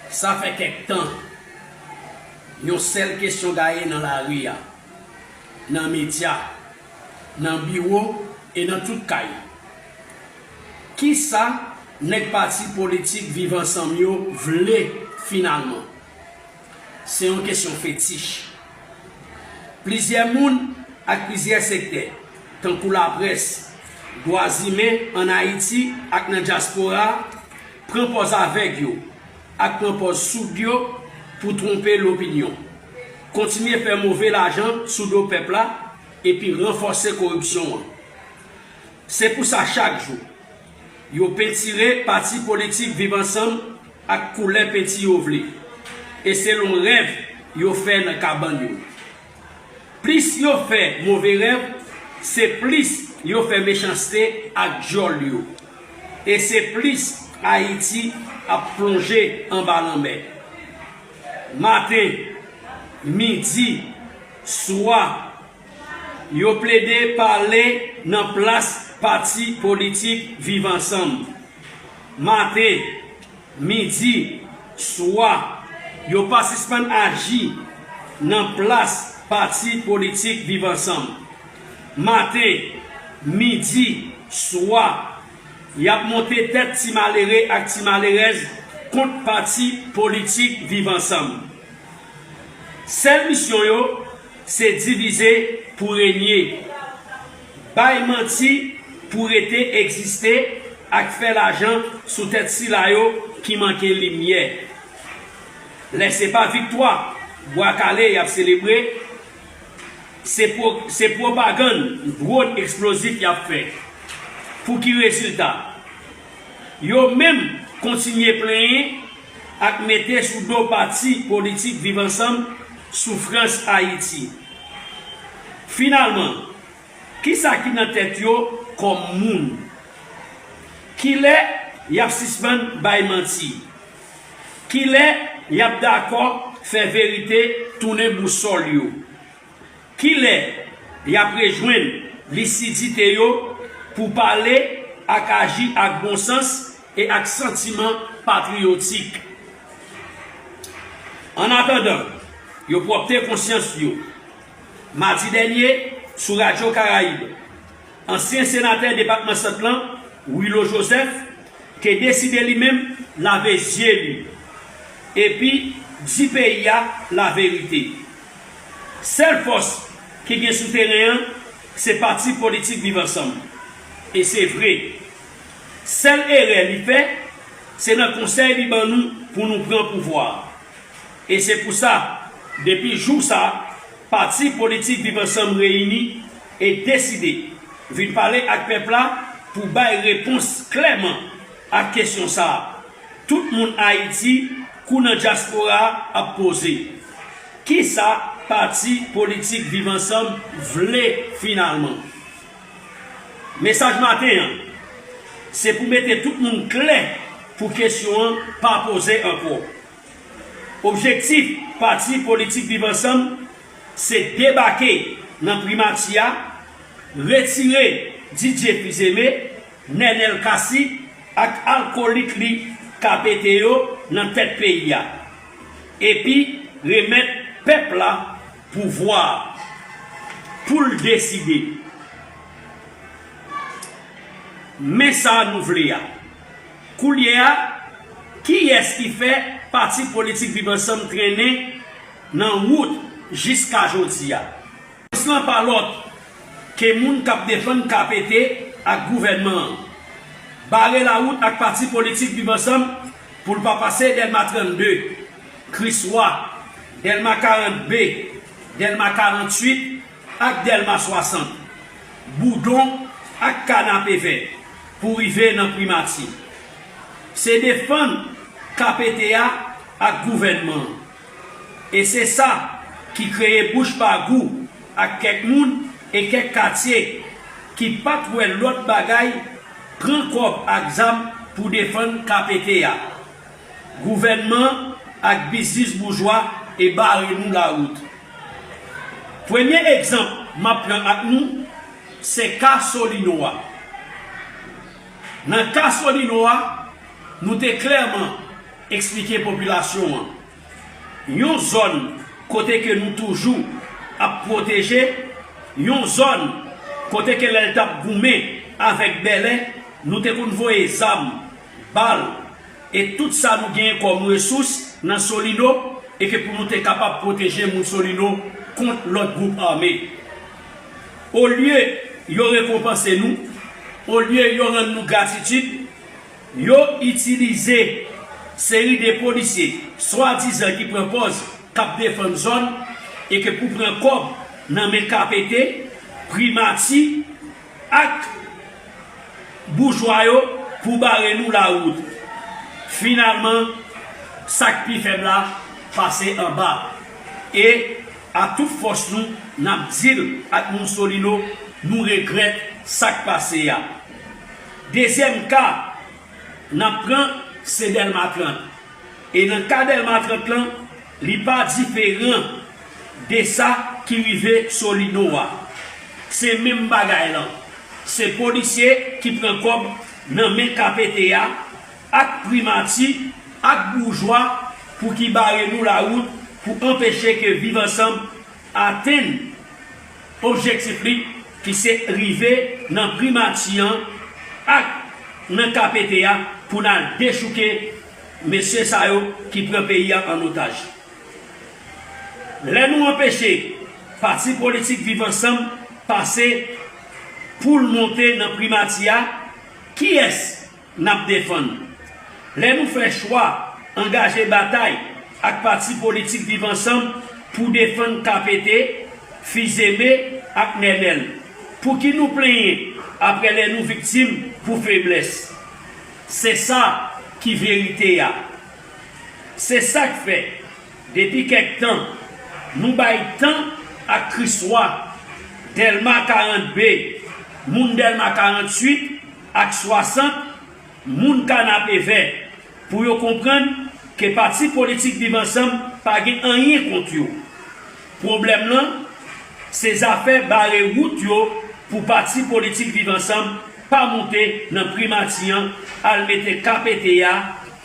Sa fè kèk tan, yon sèl kesyon gaye nan lari a, nan medya, nan biwo e nan tout kay, Kisa nèg pati politik Viv Ansanm yo vle finalman? Se yon kesyon fetich. Plizyè moun ak plizyè sektè, tankou laprès, dwazimen ann Ayiti ak nan dyaspora, Pran pòz avèg yo ak pran pòz soud yo pou twonpe lopinyon. Kontinye fè move lajan sou do pèp la epi ranfòse koripsyon an. Se pou sa chak jou, yo pentire pati politik Viv Ansanm ak koulè penti yo vle. E se lon rèv yo fè nan kabann yo. Plis yo fè move rèv, se plis yo fè mechanste ak dyòl yo. E se plis Ayiti ap plonje anba lanmè. Maten, midi, swa, yo plede pale nan plas pati politik Viv Ansanm. Maten, Midi, swa, yo pa sispann aji nan plas pati politik Viv Ansanm. Maten, midi, swa, y ap monte tèt ti malere ak ti malerèz kont pati politik Viv Ansanm. Sèl misyon yo, se divize pou renye. Bay manti pou rete egziste ak fè lajan sou tèt sila yo ki manke limyè. Lè se pa viktwa Bwa Kale y ap selebre, se pwopagann dwòn eksplozif y ap fè. Pou ki rezilta? Yo menm kontinye plenyen ak mete sou do pati politik Viv Ansanm soufrans Ayiti. Finalman, ki sa ki nan tèt yo kòm moun? Ki lè y ap sispann bay manti? Ki lè y ap dakò fè verite tounen bousòl yo? Ki lè y ap rejwenn lisidite yo pou pale ak aji ak bon sans e ak santiman patriyotik? Annatandan, yo pwòpte konsyans yo. Madi dènye, sou Radyo Karayib, ansyen senatè depatman Sant lan, Wilo Jozèf, te deside li menm lave zye li epi di peyi a laverite. Sèl fòs ki gen sou teren an se pati politik Viv Ansanm. E se vre. Sèl erè li fè, se nan konsèy li ban nou pou nou pran pouvwa a. E se pou sa, depi jou sa, pati politik Viv Ansanm reyini e deside vin pale ak pèp la pou bay repons klèman ak kesyon sa a tout moun Ayiti kou nan dyaspora ap poze, Kisa pati politik Viv Ansanm vle finalman? Mesaj maten an se pou mete tout moun klè pou kesyon an pa poze ankò. Objektif pati politik Viv Ansanm se debake nan primati a, retire Didier Fils-Aimé, Nenel Cassy ak alkolik li Capete yo nan tèt peyi a epi remèt pèp la Pouvwa a. Pou l deside. Men sa nou vle a. Koulye a, kiyès ki fè pati politik Viv Ansanm trennen nan wout jiska jodi a? Repons lan pa lòt ke moun k ap defann KPT ak gouvènman an. Bare lawout ak pati politik Viv Ansanm Pou l pa pase Dèlma 32, Kriswa, Dèlma 40 B, Dèlma 48 ak Dèlma 60, Boudon ak Kanapevè pou rive nan Primati. Se defann KPT a ak gouvènman an. E se sa ki kreye bouch ba gou ak kèk moun e kèk katye ki pat wè lòt bagay pran kòb ak zam pou defann KPT a. Gouvènman ak biznis boujwa e bare nou lawout. Premye egzanp map pran ak nou se ka Solino a. Nan ka Solino a nou te klèman. Eksplike popilasyon an yon zòn kote ke nou toujou ap pwoteje, yon zòn kote ke lè l tap goumen avèk Bèlè, nou te konn voye zam, bal e tout sa nou genyen kòm resous nan Solino e ke pou nou te kapab pwoteje moun Solino kont lòt gwoup ame. Olye yo rekonpanse nou, olye yo rann nou gratitid, Yo itilize seri de polisye swadizan ki pran pòz k ap defann zòn e ke pou pran kòb nan men KPT, Primati ak boujwa yo pou bare nou lawout. Finalman, sa k pi fèb la pase anba. E, ak tout fòs nou, n ap di l ak Moussolino nou regrèt sa k pase a. Dezyèm ka n ap pran se Dèlma 30. E nan ka Dèlma 30 lan, li pa diferan de sa ki rive Solino a. Se menm bagay lan. Se polisye ki pran kòb nan men KPT a ak Primati ak boujwa pou ki bare nou lawout pou anpeche ke Viv Ansanm atenn objektif li ki se rive nan primati an ak nan KPT a pou n al dechouke mesye sa yo ki pran peyi a an otaj. Lè nou anpeche pati politik Viv Ansanm pase pou l monte nan primati a, kiyès? n ap defann. Lè nou fè chwa angaje batay ak pati politik Viv Ansanm pou defann KPT, Fils-Aimé ak Nenel, pou ki nou plenyen aprè lè nou viktim pou feblès? Se sa ki verite a. Se sa k fè, depi kèk tan, nou bay tan ak Kriswa, Dèlma 42, moun Dèlma 48, ak 60 moun Kanapevè pou yo konprann ke pati politik Viv Ansanm pa gen anyen kont yo. Pwoblèm lan se zafè bare wout yo pou pati politik Viv Ansanm pa moute nan Primati an al mete KPT a,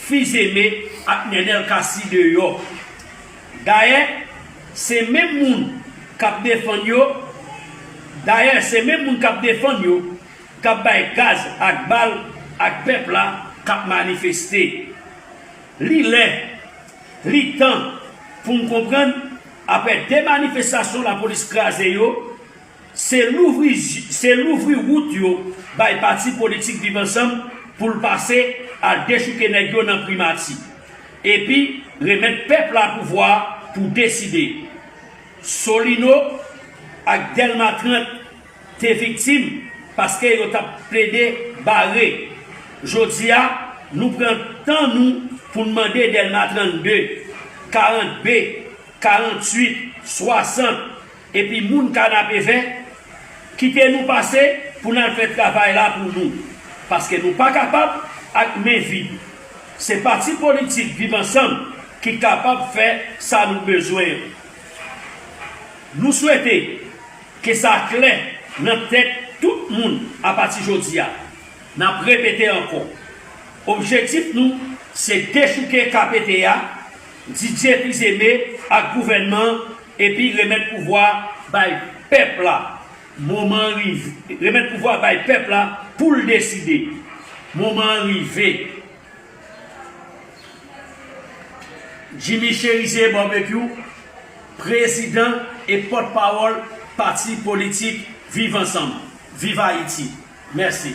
Fils-Aimé ak Nenel Cassy deyò. Dayè, se menm moun k ap defann yo, dayè se menm moun k ap defann yo kap bay gaz ak bal ak pèp la kap manifeste li lè li tan poun konprann aprè 2 manifestasyon lapolis kraze yo se louvri se louvri wout yo bay pati politik viv ansanm poul pase al dechouke nèg yo nan primati epi remèt pèp la pouvwa pou deside solino ak dèlma 30 te viktim paske yo tap plede bare jodi a nou pran tan nou pou n mande Dèlma 32, 40 B, 48, 60 epi moun kanapevè kite nou pase pou n al fè travay la pou nou paske nou pa kapab ak men vid se pati politik viv ansanm ki kapab fè sa nou bezwen an nou swete. Ke sa klè nan tèt tout moun apati jodi a. N ap repete ankò, objektif nou se dechouke KPT a, Didier Fils-Aimé ak gouvènman an epi remèt pouvwa a bay pèp la. Moman an rive. Remèt pouvwa a bay pèp la pou l deside. Moman an rive. Jimmy Cherizier Barbecue, prezidan e pòtpawòl pati politik Viv Ansanm, Viv Ayiti. Mèsi.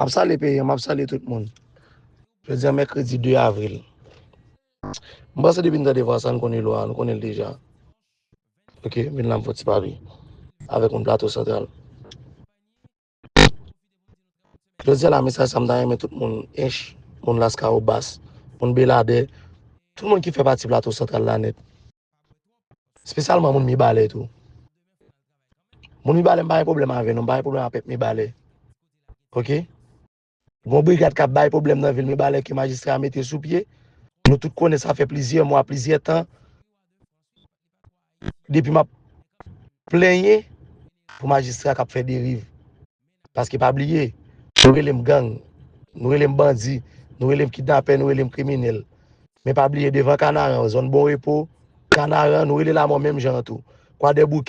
Map sali peyi an, map sali tout moun. Je di an mèkredi 2 avril. Mwen panse depi nou ta devan sa, nou konnen lwa, nou konnen l deja. Ok, mwen nan mwen foti pa vi. Avèk mwen plato santral. Jodi a la mesaj sa m ta renmen tout moun Ench, moun Laskawobas, moun Beladè, tout moun ki fè pati Plato Santral la nèt. Spesyalman moun Mibalè tou. Moun Mibalè m pa gen pwoblèm avè nou, m pa gen pwoblèm ak pèp Mibalè. Ok. Gon brigad k ap bay pwoblèm nan vil Mibalè ke majistra a mete sou pye. Nou tout konnen sa fè plizyè mwa, plizyè tan depi m ap plenyen pou majistra k ap fè deriv. Paske pa bliye, nou rele m gang, nou rele m bandi, nou rele m kidnapè, nou rele m kriminèl. Men pa bliye devan Kanaran, zòn Bon Repo, Kanaran, nou rele lamò menm jan an tou. Kwadèboukè.